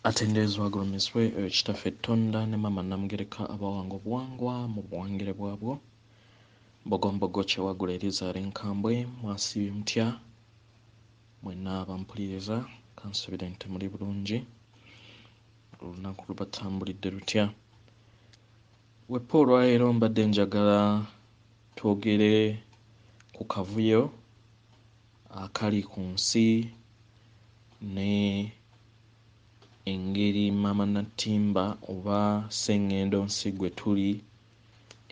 atenderezebwa agulumizibwe oyo kitaffe tonda ne maama namugereka abawanga obuwangwa mu buwangire bwabwo bogombogo kyewagula erizara enkambwe mwasiibye mutya mwena abampuliriza kansubire nti muli bulungi olunaku lubatambulidde lutya wepa olwaleero mbadde njagala twogere ku kavuyo akali ku nsi ne engeri Maama Nattimba oba Ssengendo nsi gwe tuli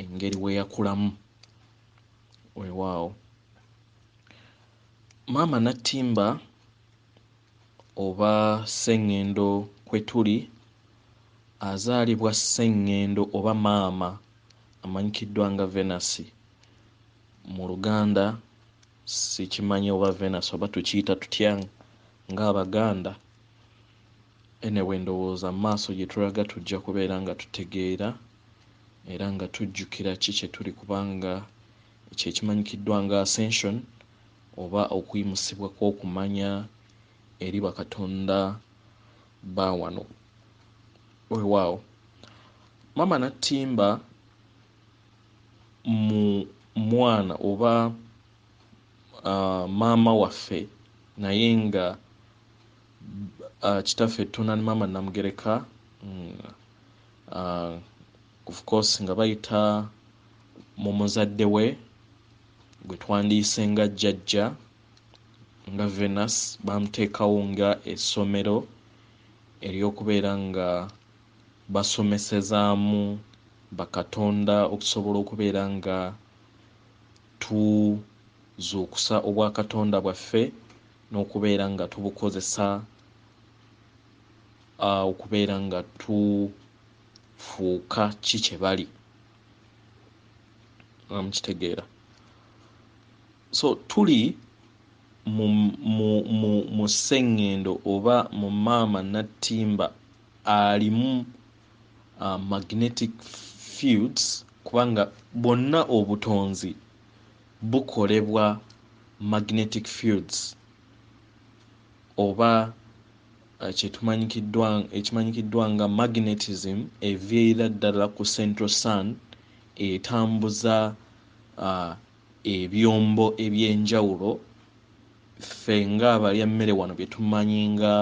engeri we yakulamu weewaawo Maama Nattimba oba Ssengendo kwe tuli azaalibwa Ssengendo oba Maama amanyikiddwa nga Venasi mu Luganda Sikimanyi oba Venus oba tukiyita tutya nga Abaganda. Anyway ndowooza mu maaso gye tulaga tujja kubeera nga tutegeera era nga tujjukira ki kye tuli kubanga ekyo ekimanyikiddwa nga ascension oba okuyimusibwa kw'okumanya eri bakatonda ba wano. Weewaawo. Maama Nattimba mu mwana oba uh, maama waffe naye nga uh, kitaffe tuna ne maama namugereka mm, uh, of course nga bayita mu muzadde we gwe twandiyise nga jjajja nga venus bamuteekawo nga essomero ery'okubeera nga basomesezaamu bakatonda okusobola okubeera nga tuzuukusa obwakatonda bwaffe n'okubeera nga tubukozesa okubeera nga tufuuka ki kye bali nga mukitegeera so tuli mu sseŋŋendo oba mu maama nattimba alimu uh, magnetic fields kubanga bwonna obutonzi bukolebwa magnetic fields oba uh, kyetumanyikiddwa ekimanyikiddwa nga magnetism eviirira ddala ku central sun etambuza uh, ebyombo ebyenjawulo ffe nga abalya mmere wano byetumanyi nga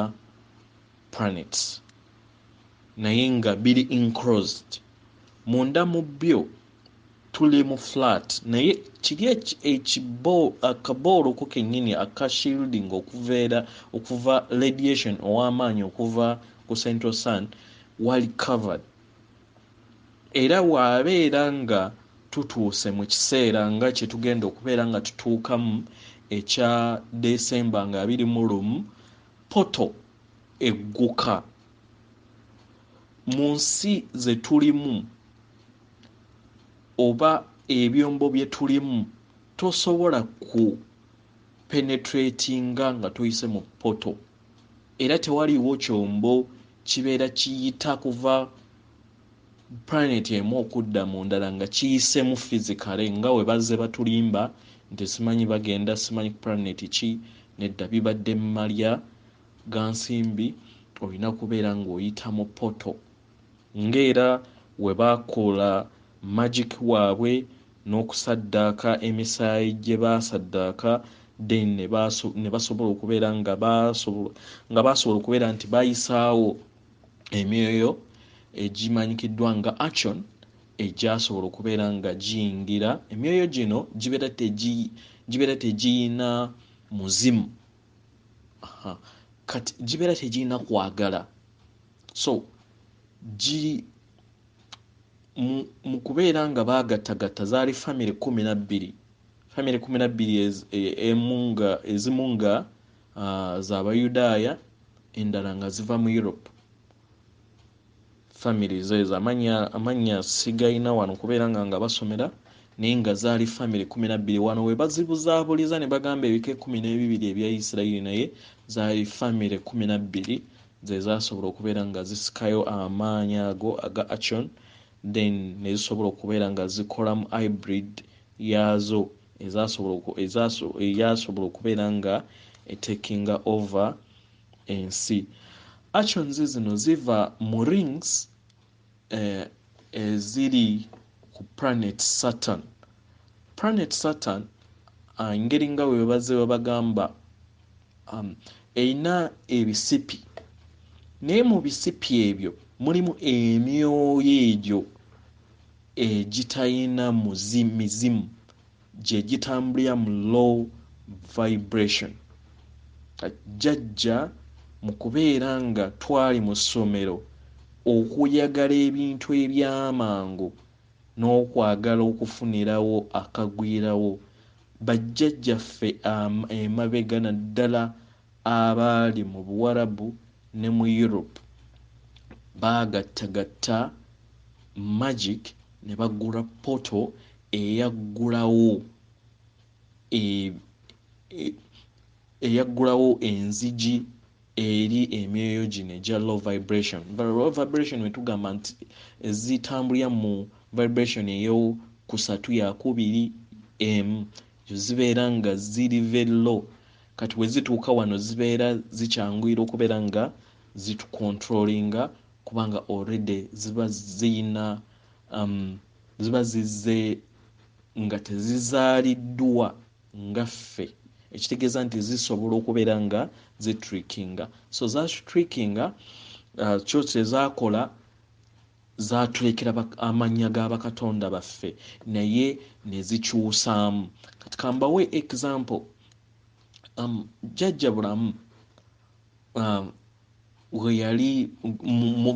planets naye nga biri enclosed munda mu byo tuli mu flat naye kiri akabooloko kennyini aka shielding okuveera okuva radiation ow'amaanyi okuva ku central sun wali covered era waabeera nga tutuuse mu kiseera nga kye tugenda okubeera nga tutuukamu ekya desemba nga abiri mu lumu portal egguka mu nsi ze tulimu oba ebyombo bye tulimu tosobola ku penetratinga nga toyise mu portal era tewaliwo kyombo kibeera kiyita kuva planet emu okudda mu ndala nga kiyisemu physically nga we bazze batulimba nti simanyi bagenda simanyi planet ki nedda bibadde malya gansimbi olina kubeera ng'oyita mu poto ng'era we bakola magic waabwe n'okusaddaaka emisaayi gye baasaddaaka then ne basobola okubeera nga baasobola okubeera nti bayisaawo emyoyo egimanyikiddwa nga action egyasobola okubeera nga giyingira emyoyo gino gibeera tegiyina muzimu kati gibeera tegiyina kwagala so giri mu kubeera nga baagattagatta zaali famiry kumi na bbiri famiry kumi na bbiri e, e, ezimu nga uh, za bayudaaya endala nga ziva mu europe family zezo amannya sigalina wano kubeera nga nga basomera naye nga zaali family kumi nabbiri wano webazibuzaabuliza ne bagamba ebika ekumi n'ebibiri ebya isirairi naye zaali family kumi nabbiri zezasobola okubeera nga zisikayo amaanyi ago aga action then nezisobola okubeera nga zikolamu hybrid yaazo eyasobola okubeera nga etekinga over ensi actions zino ziva mu rings eh, eziri ku planet saturn planet saturn engeri nga webaze webagamba um, erina ebisipi naye mu bisipi ebyo mulimu emyoyo egyo egitalina mizimu gye gitambulira mu low vibration jajja mu kubeera nga twali mu ssomero okuyagala ebintu ebyamangu n'okwagala okufunirawo akagwirawo Bajjajjaffe emabega naddala abaali mu Buwarabu ne mu Europe baagattagatta magic ne bagula portal eyaggulawo e, e, eyaggulawo enzigi eri emyoyo gino egya low vibration low vibration wetugamba nti ezitambulira mu vibration eyo kusatu yakubiri emu zibeera nga ziri very low kati wezituuka wano zibeera zikyanguyira okubeera nga zitukontrolinga kubanga already ziba ziyina um, ziba zizze nga tezizaaliddwa nga ffe ekitegeeza nti zisobola okubeera nga zitrickinga so zatrickinga uh, kyo kyezakola zatulekera amannya ga bakatonda baffe naye nezikyusaamu kati kambawe example um, jajja bulamu um, weyali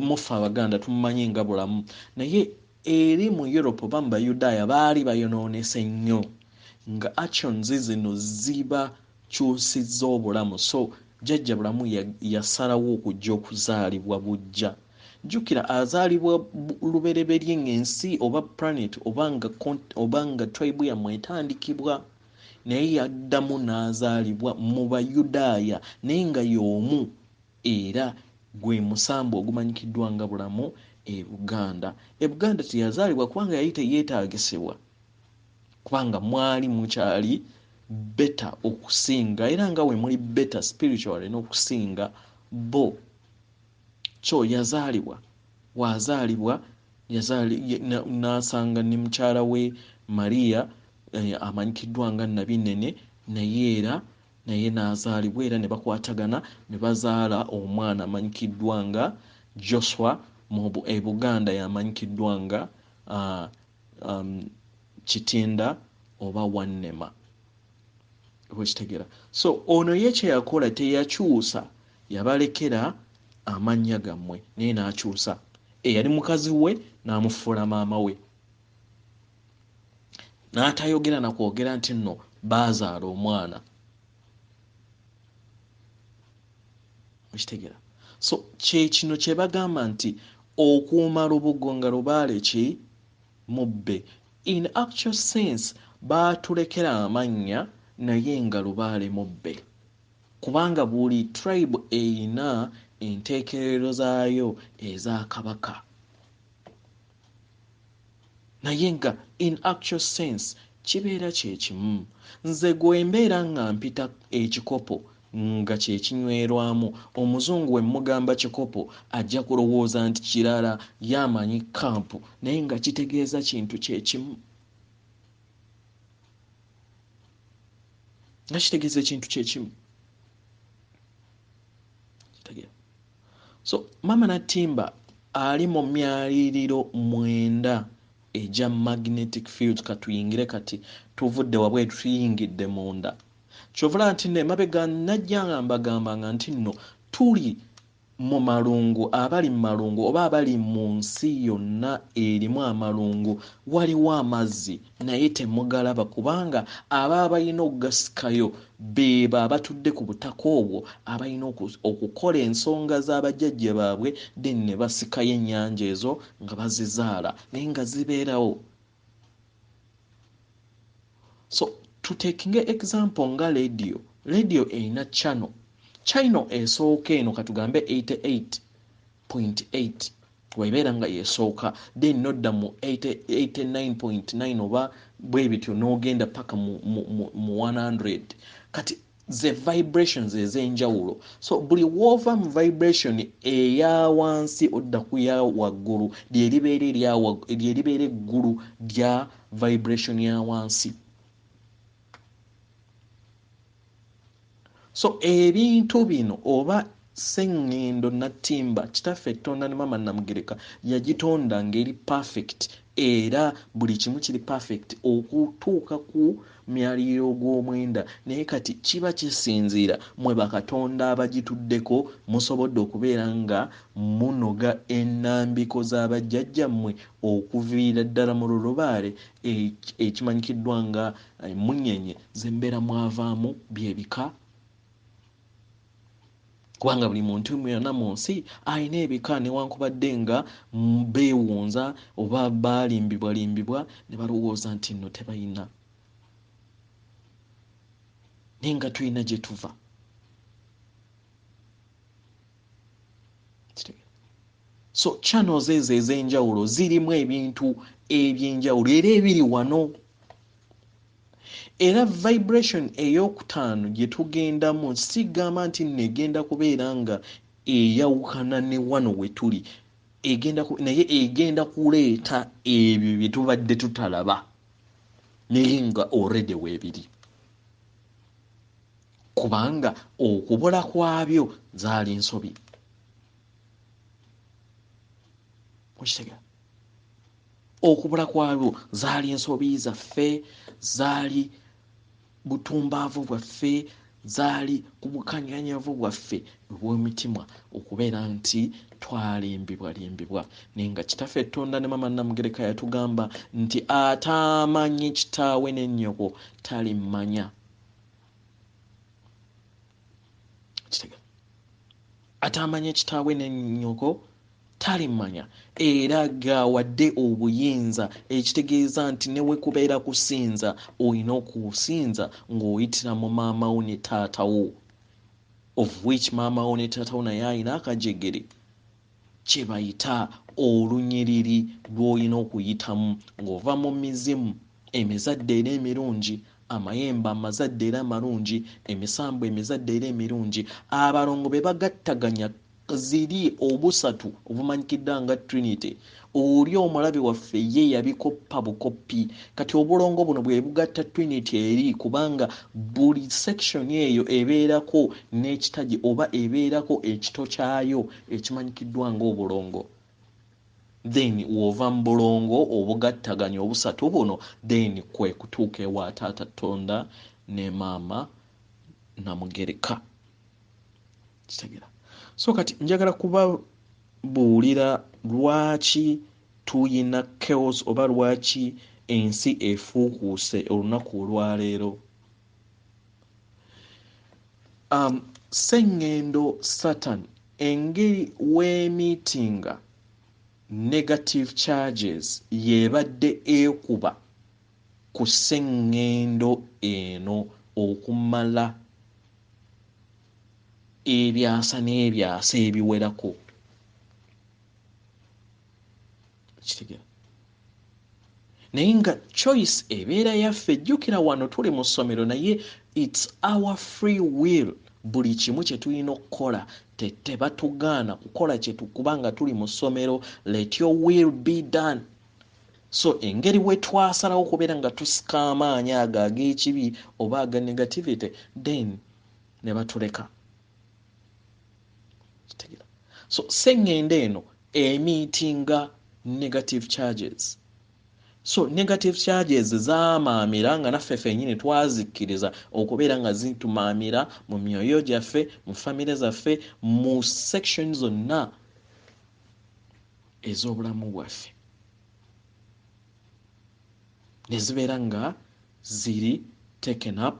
mufe abaganda tumumanyi nga bulamu naye Eri mu Europe oba mu Bayudaaya baali bayonoonese nnyo nga actions zino zibakyusizza obulamu so Jjajja Bulamu yasalawo okujja okuzaalibwa buggya. Jjukira azaalibwa lubereberye ng'ensi oba planet oba nga tribe yammwe etandikibwa naye yaddamu n'azaalibwa mu Bayudaaya naye nga y'omu Era gwe musambwa ogumanyikiddwa nga bulamu e Buganda. E Buganda teyazaalibwa kubanga yali teyeetaagisibwa kubanga mwali mukyali better okusinga era nga we muli better spiritually n'okusinga bo. So yazaalibwa waazaalibwa n'asanga ne mukyala we Maria eh, amanyikiddwa nga Nabinene naye era naye n'azaalibwa era ne bakwatagana ne bazaala omwana amanyikiddwa nga Joswa mu e Buganda y'amanyikiddwa nga uh, um, Kitinda oba Wannema okitegera so ono ye kyeyakola teyakyusa yabalekera amannya gammwe naye n'akyusa eyali mukazi we n'amufuula maama we n'atayogera na kwogera nti nno baazaala omwana okitegera so kyekino kyebagamba nti okuuma lubugo nga lubaale ki mubbe in actual sense baatulekera amannya naye nga lubaale mubbe kubanga buli tribe eyina enteekerero zaayo eza kabaka naye nga in actual sense kibeera kyekimu nze gwembeera nga mpita ekikopo nga kyekinywerwamu omuzungu wemugamba kikopo ajja kulowooza nti kirala ye amanyi camp naye nga kitegeeza kintu kyekimu nga kitegeeza ekintu kyekimu so maama natimba ali mu myaliriro mwenda egya magnetic field katuyingire kati tuvudde wabweru tuyingidde munda kyovula nti no emabega najja nga mbagamba nga nti nno tuli mu malungu abali mu malungu oba abali mu nsi yonna erimu amalungu waliwo amazzi naye temugalaba kubanga aba abalina okugasikayo Beebo abatudde ku butaka obwo abalina okukola ensonga za bajjajja baabwe then ne basikayo ennyanja ezo nga bazizaala naye nga zibeerawo. So tutekinge example nga leediyo, leediyo erina channel, channel esooka eno katugambe 88 point eight webeera nga yesooka then nodda mu 89.9 oba bwebityo nogenda paka mu, mu, mu, mu 100 kati ze vibrations ezenjawulo so buli woova mu vibration eya wansi odda ku ya waggulu lyeribeera lyeribeera eggulu lya vibration ya wansi so ebintu bino oba sengendo nattimba kitaffe ettonda ne mama namugereka yagitonda ngeri perfect era buli kimu kiri perfect okutuuka ku myaliriro gw'omwenda naye kati kiba kisinziira mwe bakatonda abagituddeko musobodde okubeera nga munoga enambiko z'abajjajjammwe okuviira ddala mu lulubaale ekimanyikiddwa nga Emmunyeenye z'embeera mwavaamu bye bika, kubanga buli muntu yonna mu nsi alina ebika newankubadde nga beewunza oba baalimbibwalimbibwa ne balowooza nti nno tebalina naye nga tulina gye tuva so channels ezo ez'enjawulo zirimu ebintu ebyenjawulo era ebiri wano era vibration eyokutaano gye tugendamu sigamba nti nno egenda kubeera nga eyawukana ne wano we tuli egenda naye egenda kuleeta ebyo bye tubadde tutalaba naye nga already weebiri kubanga okubula kwabyo zaali nsobi okitega okubula kwabyo zaali ensobi zaffe zaali butumbaavu bwaffe zaali ku bukanyanyavu bwaffe obw'omitima okubeera nti twalimbibwa limbibwa naye nga kitaffe ettonda ne mama namugereka yatugamba nti ataamanyi kitaawe ne nnyoko talimmanya atamanya kitaawe ne nyoko talimanya era gawadde obuyinza ekitegeeza nti newekubeera kusinza olina okusinza ng'oyitira mu maama wo ne taata wo of which maama wo ne taata wo naye alina akajegere kyebayita olunyiriri lw'olina okuyitamu ng'ova mu mizimu emizadde era emirungi, amayembe amazadde era amalungi, emisambwa emizadde era emirungi, abalongo be bagattaganya ziri obusatu obumanyikiddwa nga Trinity, Oli omulabe waffe ye yabikoppa bukoppi. Kati obulongo buno bwebugatta twinit eri kubanga buli section eyo ebeerako n'ekitagi oba ebeerako ekito kyayo ekimanyikiddwa nga obulongo. Then w'ova mu bulongo obugattaganya obusatu buno then kwekutuuka ewa taata Tonda ne maama Namugereka. kitegera so kati njagala kubabuulira lwaki tuyina chaos oba lwaki ensi efuukuuse olunaku olwaleero um, sengendo satan engeri wemitinga negative charges yebadde ekuba ku sengendo eno okumala ebyasa n'ebyasa ebiwerako kitegera naye nga choice ebeera yaffe jjukira wano tuli mu ssomero naye its our free will buli kimu kye tulina okukola tebatugaana kukola kyetukuba nga tuli mu ssomero let your will be done so engeri wetwasalawo okubeera nga tusika amaanyi ago ag'ekibi oba aga negativity then ne batuleka kitegera so sengende eno emiitinga negative charges so negative charges zamaamira nga naffe fenyini twazikkiriza okubeera nga zitumaamira mu myoyo gyaffe mu famire zaffe mu section zonna ez'obulamu bwaffe ne zibeera nga ziri taken up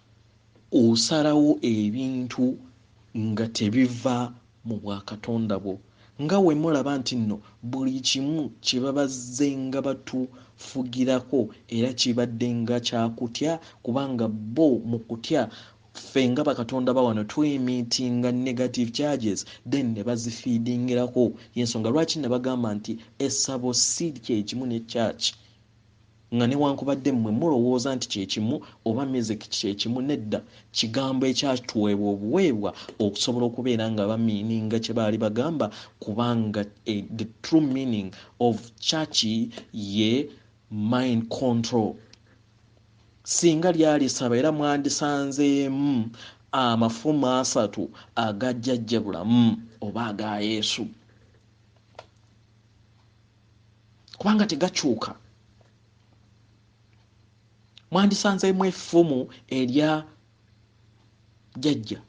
Osalawo ebintu nga tebiva mu bwa Katonda bwo nga wemulaba nti nno buli kimu kyebabazzenga batu fugirako era kibaddenga kya kutya kubanga bo mu kutya ffe nga bakatonda bawano tu emittinga negative charges then ne bazifeedingirako yensonga lwaki nabagamba nti essabo ssi kyekimu ne church Nga newankubadde mmwe mulowooza nti kye kimu, oba music kye kimu, nedda, kigambo ekyatuweebwa obuweebwa okusobola okubeera nga ba meaninga kye baali bagamba, kubanga e, the true meaning of church ye mind control. Singa lyali ssaba era mwandisanzeemu amafumu asatu aga Jjajja Bulamu oba aga Yesu. kubanga tegakyuka mwandisanzeemu effumu erya jajja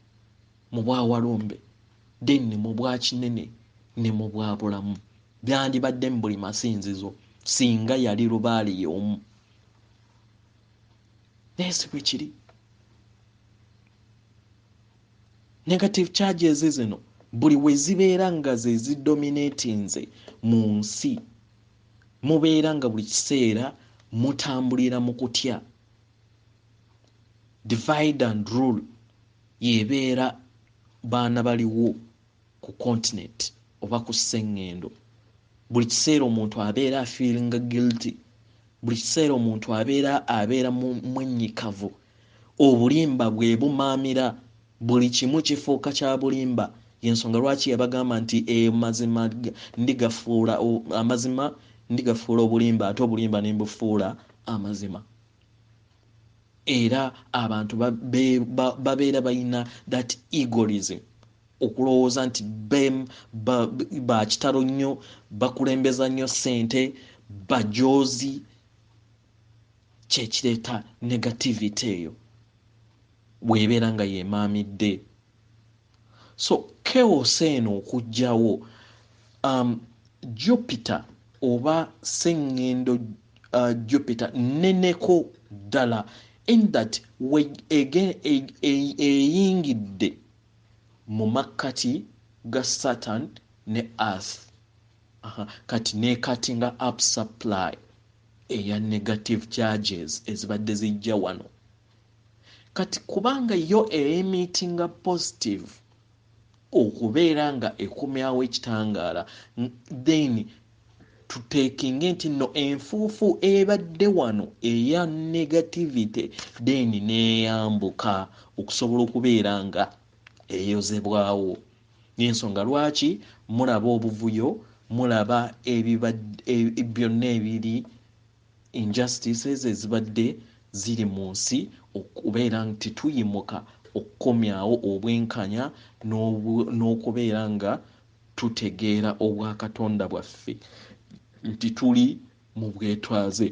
mu bwawalumbe then ne mu bwakinene ne mu bwabulamu byandibadde mu buli masinzizo singa yali lubaale yeomu naye si bwe kiri Negative charges zino buli we zibeera nga ze zidominatinze mu nsi, mubeera nga buli kiseera mutambulira mu kutya. Divide and rule y'ebeera baana baliwo. ku continent oba ku sengendo buli kiseera omuntu abeera afeelinga guilty buli kiseera omuntu abeera abeera mwenyikavu obulimba bwebumaamira buli kimu kifuuka kya bulimba yensonga lwaki yabagamba nti amazima eh, ndigafuula amazima ndigafuula obulimba ate obulimba nembufuula amazima Era abantu babeera balina that egorism okulowooza nti bem bakitalo ba nnyo bakulembeza nnyo sente bajoozi kyekireeta negativity eyo webeera nga yemaamidde so chaos eno okujjawo um, Jupiter oba sengendo uh, Jupiter neneko ddala in that we again e, e, eyingidde mu makkati ga Saturn ne Earth Aha. kati nekatinga up supply eya negative charges ezibadde zijja wano Kati kubanga yo eyimitinga positive okubeera nga ekomyawo ekitangaala then tutekinge nti no enfuufu ebadde wano eya negativity then neyambuka okusobola okubeera nga eyozebwawo nensonga lwaki mulaba obuvuyo mulaba byonna ebiri injustice ezo ezibadde ziri mu nsi okubeera nti tuyimuka okukomyawo obwenkanya n'okubeera nga tutegeera obwakatonda bwaffe nti tuli mu bwetwaze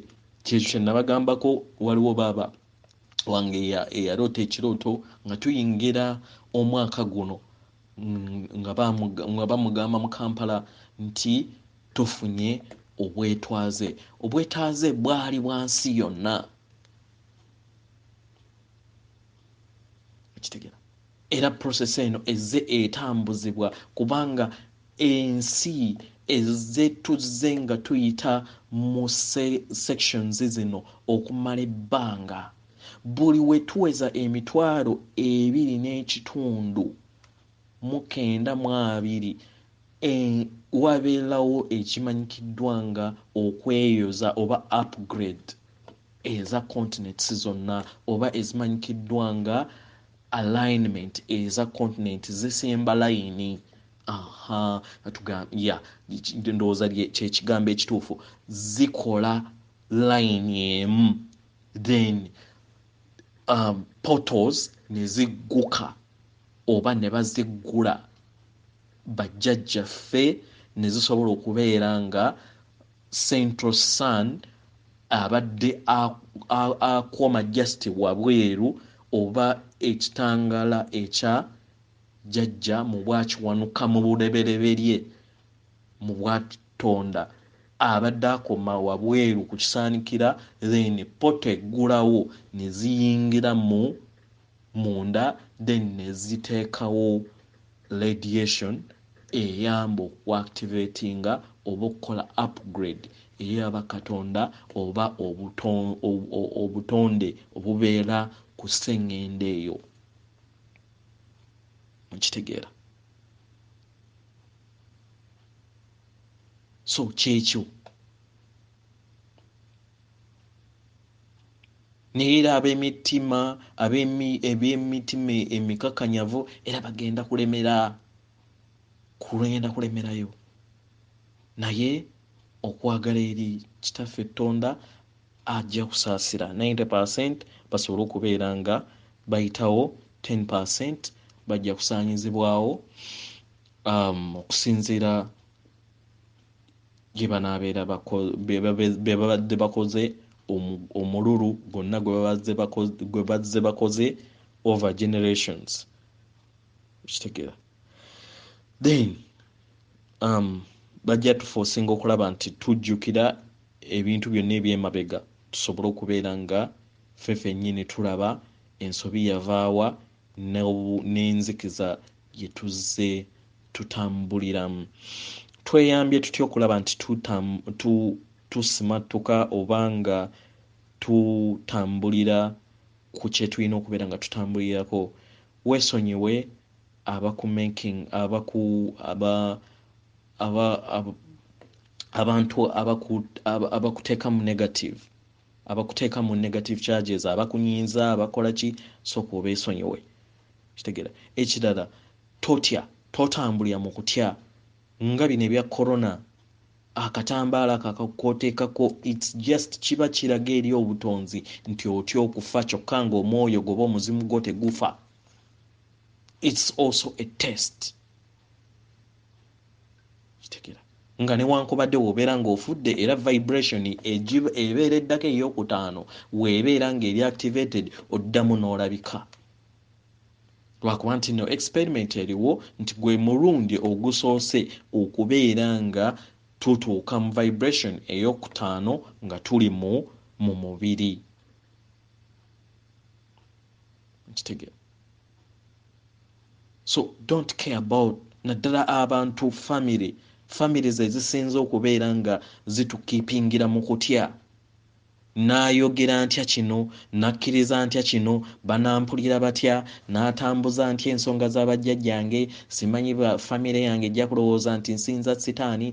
kyekyo kyenabagambako waliwo baaba wange eyaroota ekirooto nga tuyingira omwaka guno nga bamugamba mu kampala nti tufunye obwetwaze obwetaaze bwali bwansi yonna ekitegera era process eno ezze etambuzibwa kubanga ensi ezze tuzze nga tuyita mu sections zino okumala ebbanga Buli we tuweza emitwalo ebiri n'ekitundu mu kenda mu abiri eng wabelawo ekimanyikiddwa nga okweyoza oba upgrade eza continents zonna oba ezimanyikiddwa nga alignment eza continent zisimba layini. Aha, tuga, ya, ndowooza kye kigambo ekituufu. Zikola layini emu. then um, portals ne zigguka oba ne baziggula bajjajjaffe ne zisobola okubeera nga central sun abadde akuuma just wabweru oba ekitangala ekya jjajja mu bwakiwanuka mu burebereberye mu bwatonda abadde akoma wabweru ku kisaanikira then pota eggulawo ne ziyingira mu munda then ne ziteekawo radiation eyamba okuactivatinga oba okukola upgrade eya bakatonda oba obutonde obubeera ku sseŋŋendo eyo mukitegeera so kyekyo naye era ab'emitima eby'emitima emikakanyavu era bagenda kulemera kulwenda kulemerayo naye okwagala eri kitaffe ettonda Ajja kusaasira 90 per cent basobole okubeera nga bayitawo, ten per cent bajja kusaanyizibwawo um, okusinziira gye banaabeera be babadde bakoze omululu gwonna gwe bazze bakoze over generations okitegeera then um, bajja tufosinga okulaba nti tujjukira ebintu byonna ebyemabega tusobole okubeera nga fe fenyini tulaba ensobi yavaawa n'enzikiza gyetuzze tutambuliramu tweyambye tutya okulaba nti tusimattuka oba nga tutambulira ku kyetulina okubeera nga tutambulirako wesonyiwe abaku making abaku aba aba ab- abantu abaku ab- abakuteka mu negative abakuteka mu negative charges abakunyiiza abakola ki soka obesonyiwe kitegera ekirala totya totambulira mu kutya nga bino ebya corona akatambaala ako akakoteekako its just kiba kiraga eri obutonzi nti otya okufa kyokka nga omwoyo goba omuzimu gwo tegufa its also a test kitegera nga newankubadde wobeera ngaofudde era vibration ebeera eddako eyokutaano webeera nga eri activated oddamu n'olabika lwakuba nti no experiment eriwo nti gwe mulundi ogusoose okubeera nga tutuuka mu vibration eyokutaano nga tuli mu mu mubiri nkitegera so don't care about naddala abantu family family ze zisinza okubeera nga zitukipingira mu kutya n'ayogera ntya kino n'akkiriza ntya kino banampulira batya n'atambuza ntya ensonga za bajjajjange simanyi ba famire yange ejja kulowooza nti nsinza sitaani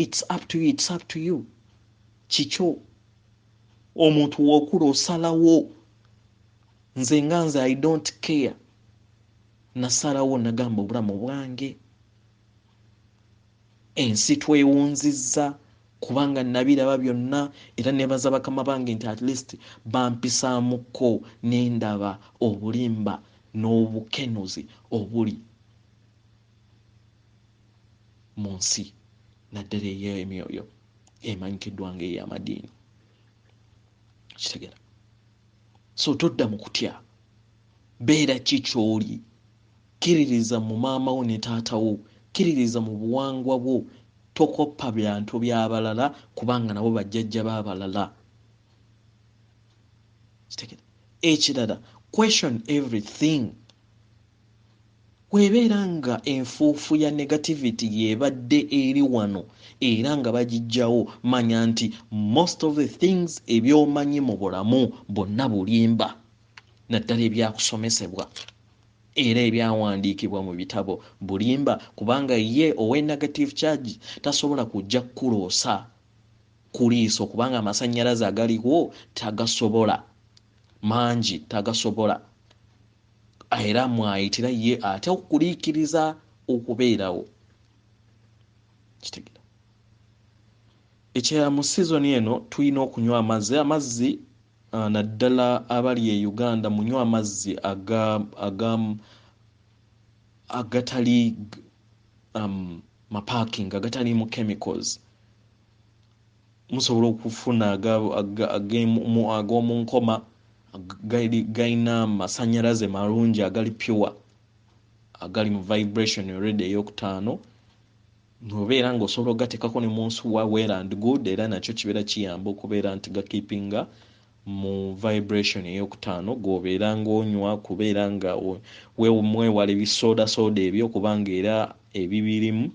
its up to you, it's up to you. kikyo omuntu wokula osalawo nze nga nze i don't care nasalawo nagamba obulamu bwange ensi twewunzizza kubanga nabiraba byonna era nebaza bakama bange nti at least bampisaamukko nendaba obulimba n'obukenuzi obuli mu nsi naddala ey'emyoyo emanyikiddwa ng'ey'amadiini kitegera so todda mu kutya beera ki ky'oli kkiririza mu maama wo ne taata wo kkiririza mu buwangwa bwo tokoppa byantu by'abalala kubanga nabo bajjajja b'abalala kitegera ekirala question everything Bw'ebeera nga enfuufu ya negativity y'ebadde eri wano era nga bagijjawo, manya nti most of the things eby'omanyi mu bulamu bwonna bulimba, naddala ebyakusomesebwa era ebyawandiikibwa mu bitabo bulimba kubanga ye owe negative charge tasobola kujja kukuloosa ku liiso kubanga amasannyalaze agaliwo tagasobola, mangi tagasobola. era mwayitira ye ate okuliikiriza okubeerawo kitegera ekya mu sizoni eno tulina okunywa amazzi amazzi ah, naddala abali e uganda munywa amazzi agatali um, maparking agataliimu chemicals Musobola okufuna ag'omu nkoma galina amasannyalaze malungi agali pure agali mu vibration redi eyokutaano nobeera nga osobola ogateekako ne mu nsuwa well and good era nakyo kibeera kiyamba okubeera nti gakeepinga mu vibration eyokutaano gwobeera ngaonywa kubeera nga mwewala ebisoodasooda ebyo kubanga era ebibirimu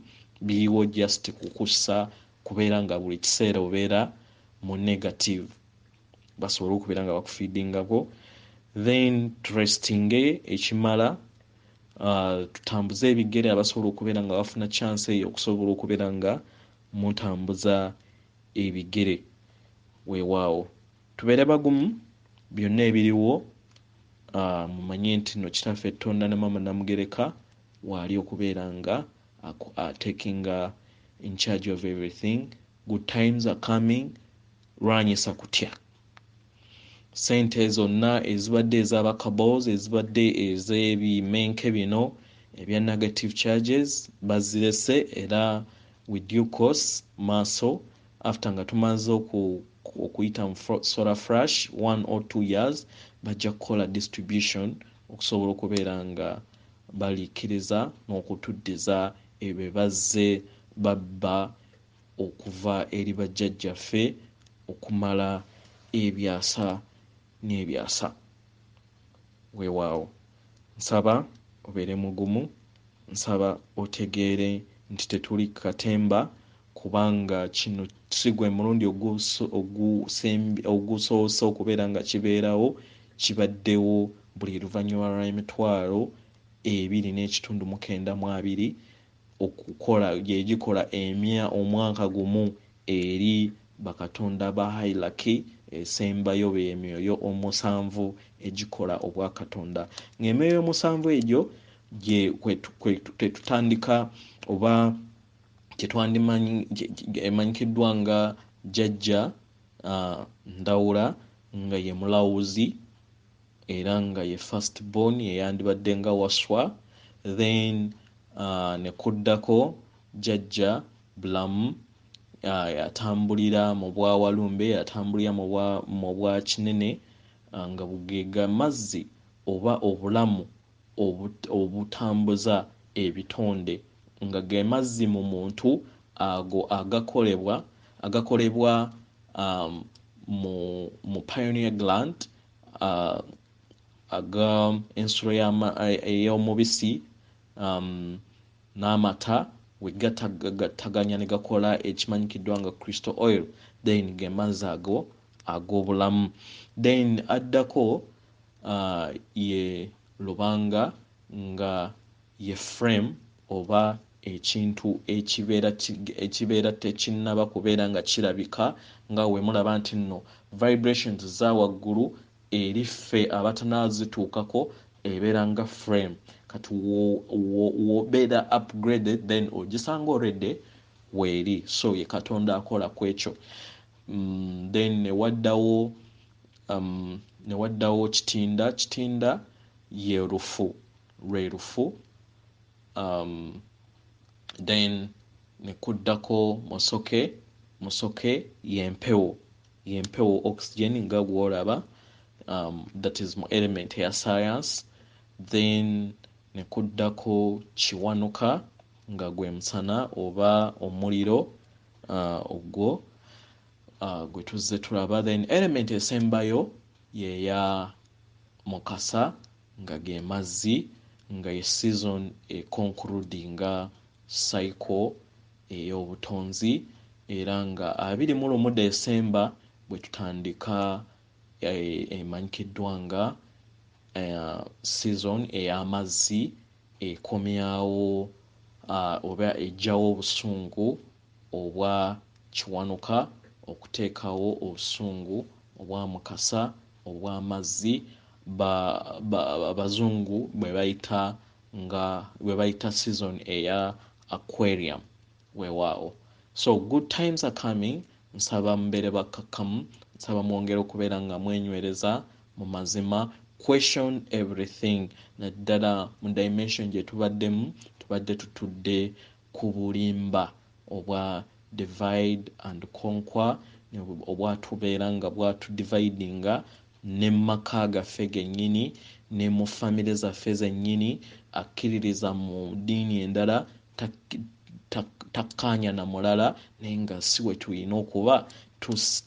biriwo just kukussa kubeera nga buli kiseera obeera mu negative basobole okubeera nga bakufidingako then trestinge ekimala uh, tutambuze ebigere abasobola okubeera nga bafuna chance eyo okusobola okubeera nga mutambuza ebigere wewaawo tubeere bagumu byonna ebiriwo uh, mumanye nti no kitaffe tonda ne mama namugereka waali okubeera nga Aku are taking a in charge of everything good times are coming lwanyisa kutya sente zonna ezibadde ezabakabos ezibadde ezebimenke bino ebya negative charges bazirese era with due course maaso after nga tumaze oku okuyita mu solar frash one or two years bajja kukola distribution okusobola okubeera nga balikkiriza n'okutuddiza ebyo bye bazze babba okuva eri bajjajjaffe okumala ebyasa n'ebyasa weewaawo nsaba obeere mugumu Nsaba otegeere nti tetuli ku katemba kubanga kino si gwe mulundi ogusoose okubeera nga kibeerawo, kibaddewo buli luvannyuma lw'emitwalo ebiri n'ekitundu mu kenda mu abiri okukola gye gikola omwaka gumu. Eri bakatonda ba hierarchy esembayo be myoyo omusanvu egikola obwakatonda. Nga emyoyo omusanvu egyo gye tetutandika oba kyetwandimanyi emanyikiddwa nga jajja uh, ndawula nga ye mulawuzi era nga ye first born eyandibadde nga waswa then uh, ne kuddako jajja bulamu atambulira mu bwa walumbe atambulira mu bwa kinene nga bugega mazzi oba obulamu obutambuza ebitonde nga ge mazzi mu muntu ago agakolebwa agakolebwa mu pioneer glant aga ensulo ey'omubisi. n'amata wegatagattaganya negakola ekimanyikiddwa nga crystal oil then gemazzi ago ag'obulamu then addako uh, ye lubanga nga ye frame oba ekintu ekibeera ekibeera tekinnaba kubeera nga kirabika nga wemulaba nti nno vibrations za waggulu eri ffe abatanazituukako ebeera nga frame kati wobera upgraded then ogisanga already weeri so ye katonda akola kwekyo mm, then newaddawo um, newaddawo kitinda kitinda ye lufu lwe lufu um, then nekuddako musoke musoke yempewo Yempewo, oxygen, nga gwolaba um, that is mu element ya science then nekuddako kiwanuka nga gwe musana oba omuliro uh, ogwo uh, gwe tuzze tulaba then element esembayo yeya mukasa nga ge mazzi nga ye season ekonkurudinga cycle ey'obutonzi era nga abiri mu lumu Desemba bwe tutandika emanyikiddwa nga season ey'amazzi ekomyawo oba eggyawo obusungu obwa Kiwanuka okuteekawo obusungu obwa Mukasa obw'amazzi Abazungu bwe bayita nga bwe bayita season eya aquarium weewaawo so good times are coming nsaba mubeere bakkakkamu nsaba mwongere okubeera nga mwenywereza mu mazima question everything naddala mu dimension gye tubaddemu tubadde tutudde ku bulimba obwa divide and conquer obwatubeera nga bwatu dividinga ne mu maka gaffe gennyini, ne mu famire zaffe zennyini, akkiririza mu ddiini endala takkaanya na mulala naye nga si bwe tulina okuba,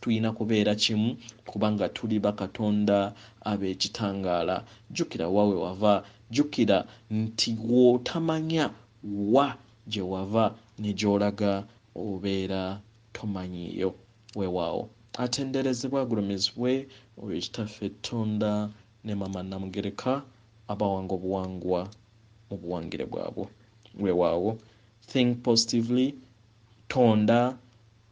tulina kubeera kimu kubanga tuli bakatonda ab'ekitangaala. Jjukira wa we wava, jjukira nti gw'otamanya, Wa gye wava ne gy'olaga obeera tomanyiiyo. Weewaawo. Atenderezebwe agulumizibwe oyo Kitaffe Tonda ne Maama Namugereka abawanga obuwangwa mu buwangire bwabwo. Weewaawo. Think positively. Tonda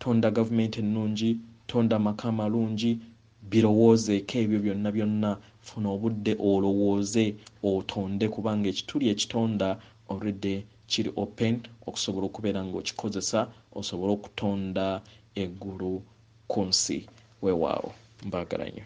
Tonda gavumenti ennungi, tonda amaka amalungi, birowoozeeko ebyo byonna byonna, funa obudde olowooze, otonde kubanga ekituli ekitonda already kiri open okusobola okubeera nga okikozesa osobole okutonda eggulu kunsi. Wewaawo mbagalanyo.